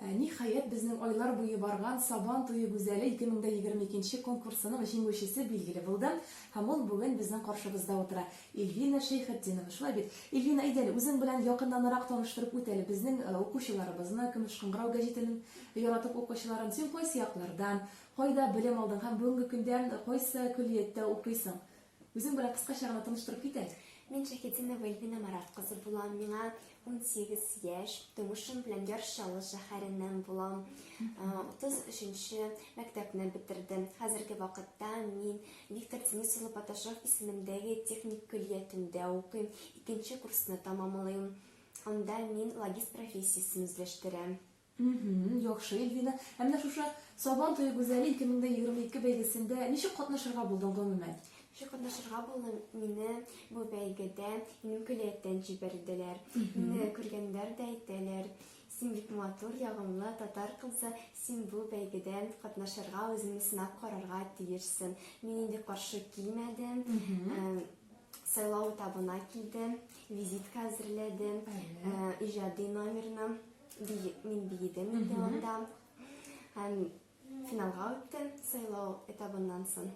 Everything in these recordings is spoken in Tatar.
Ә ниһаять, безнең айлар буе барган Сабан туе гүзәле 2022 нче конкурсының җиңүчесе билгеле булды һәм ул бүген безнең каршыбызда утыра. Ильвина Шәйхетдинова, шулай бит? Ильвина, әйдә әле, үзең белән якыннанрак таныштырып үт әле безнең укучыларыбызны, Көмеш кыңгырау гәҗитенең яратып укучыларын. Син кайсы яклардан, кайда белем алдың һәм бүгенге көндә кайсы көллияттә укыйсың? Үзең белән кыскача гына таныштырып кит әле. Мин Шәйхетдинова Эльвина Марат кызы булам. Миңа 18 яшь. Тумышым белән Яр Чаллы шәһәреннән булам. 33 нче мәктәпне бетердем. Хәзерге вакытта мин Виктор Денис улы Паташов исемендәге техник көллиятендә укыйм. Икенче курсны тәмамлыйм. Анда мин логист профессиясен үзләштерәм. Мһм, яхшы, Ильвина. Ә менә шушы Сабан туе гүзәле 2022 бәйгесендә ничек катнашырга булдың гомумән? Ничек катнашырга булдым? Мине бу бәйгедә минем көллияттән җибәрделәр. Мине күргәннәр дә әйтәләр, Син бик матур, ягымлы татар кызы, син бу бәйгедә катнашырга, үзеңне сынап карарга тиешсең. Мин инде каршы килмәдем. Э, Сайлау этабына килдем, визитка әзерләдем, э, иҗади номерны. Бии, мин биедем Леонда. Һәм финалга үттем сайлау этабыннан соң.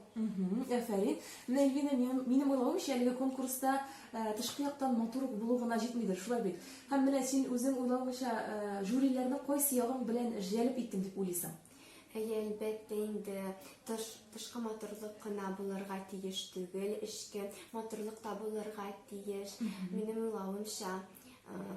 Әфәрин. Менә Ильвина, минем уйлавымча, әлеге конкурста э, тышкы яктан матур булу гына җитмидер, шулай бит. Һәм менә син үзең уйлавыңча э, жюриләрне кайсы ягың белән җәлеп иттем дип уйлыйсың? Әйе, әлбәттә инде тыш, тышкы матурлык кына булырга тиеш түгел, эчке матурлык та булырга тиеш. Минем уйлавымча, э,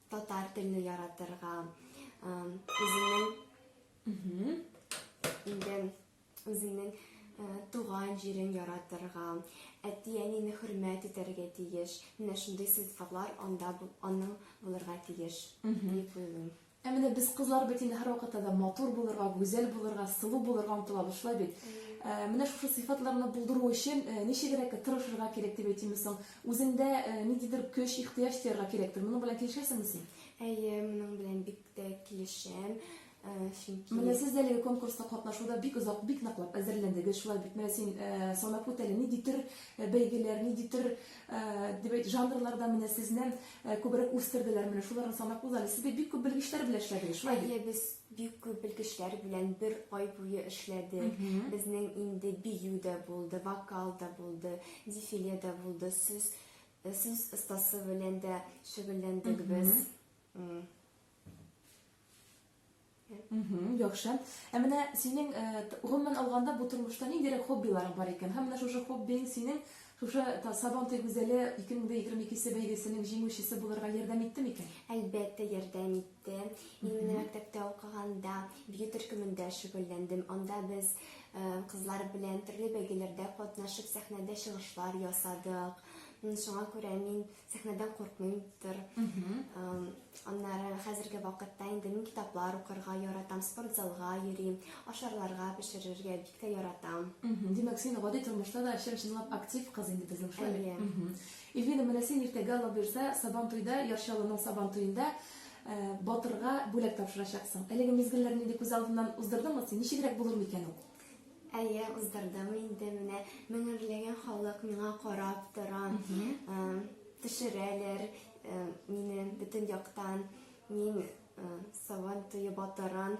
Татар телне яратырга, үзеңнең инде үзеңнең туган җирен яратырга, әти-әнине хөрмәт итәргә тиеш. Менә шундый сыйфатлар анда аның булырга тиеш дип уйлыйм. Ә менә без кызлар бит инде һәрвакытта да матур булырга, гүзәл булырга, сылу булырга омтылабыз, шулай бит? Ә, менә шушы сыйфатларны булдыру өчен ә, ничегрәк тырышырга кирәк дип әйтимез соң? Үзеңдә ниндидер көч, ихтыяҗ тоярга кирәктер. Моның белән килешәсеңме син? Әйе, моның белән бик тә килешәм. Чөнки Менә сез дә әлеге конкурста катнашуда бик озак, бик ныклап әзерләндегез. Шулай бит. Менә син санап үт әле, нинди төр бәйгеләр, нинди төр дип әйт, жанрларда менә сезне күбрәк үстерделәр. Менә шуларны санап уз әле. Сез бит бик күп белгечләр белән эшләдегез. Шулай бит? Әйе, без Бик күп белгечләр белән бер ай буе эшләдек. Безнең инде бию дә булды, вокал да булды, дефиле дә булды, сүз э, сүз остасы белән дә шөгыльләндек без. М. Мгм, Яхшы. Ә менә синең э, т- гомумән алганда бу тормышта ниндирәк хоббиларың бар икән? Һәм менә шушы хоббиң синең Шушы Сабан туй гүзәле 2022 се бәйгесенең җиңүчесе булырга ярдәм итте микән? Әлбәттә, ярдәм итте. Мин менә мәктәптә укыганда бию төркемендә шөгыльләндем. Анда без кызлар белән төрле бәйгеләрдә катнашып, сәхнәдә чыгышлар ясадык. Шуңа күрә мин сәхнәдән куркмыймдыр. Аннары хәзерге вакытта инде мин китаплар укырга яратам, спорт залга йөрим, ашарларга пешерергә бик тә яратам. Димәк, син гади тормышта да чын чынлап актив кыз инде безнең шулай. Эльвина, менә син иртәгә Алла бирсә, Сабан туйда, Ярчалының Сабан туенда э, батырга бүләк тапшырачаксың. Әлеге мизгелләрне инде күз алдыннан уздырдыңмы син? Ничегрәк булыр микән ул? Әйе, уздырдым инде менә. Меңәрләгән халык миңа карап тора. Ә, Төшерәләр ә, мине бөтен яктан. Мин ә, Сабан туе батырын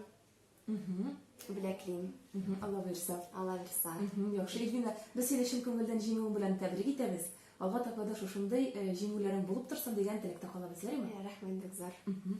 бүләклим. Мгм, Алла бирса. Алла бирса. Мгм, Яхшы, Ильвина, без сине чын күңелдән җиңүең белән тәбрик итәбез. Алга таба да шушындый э, җиңүләрең булып торсын дигән теләктә калабыз, ярыймы? Ә, Рәхмәт бик зур. Мгм.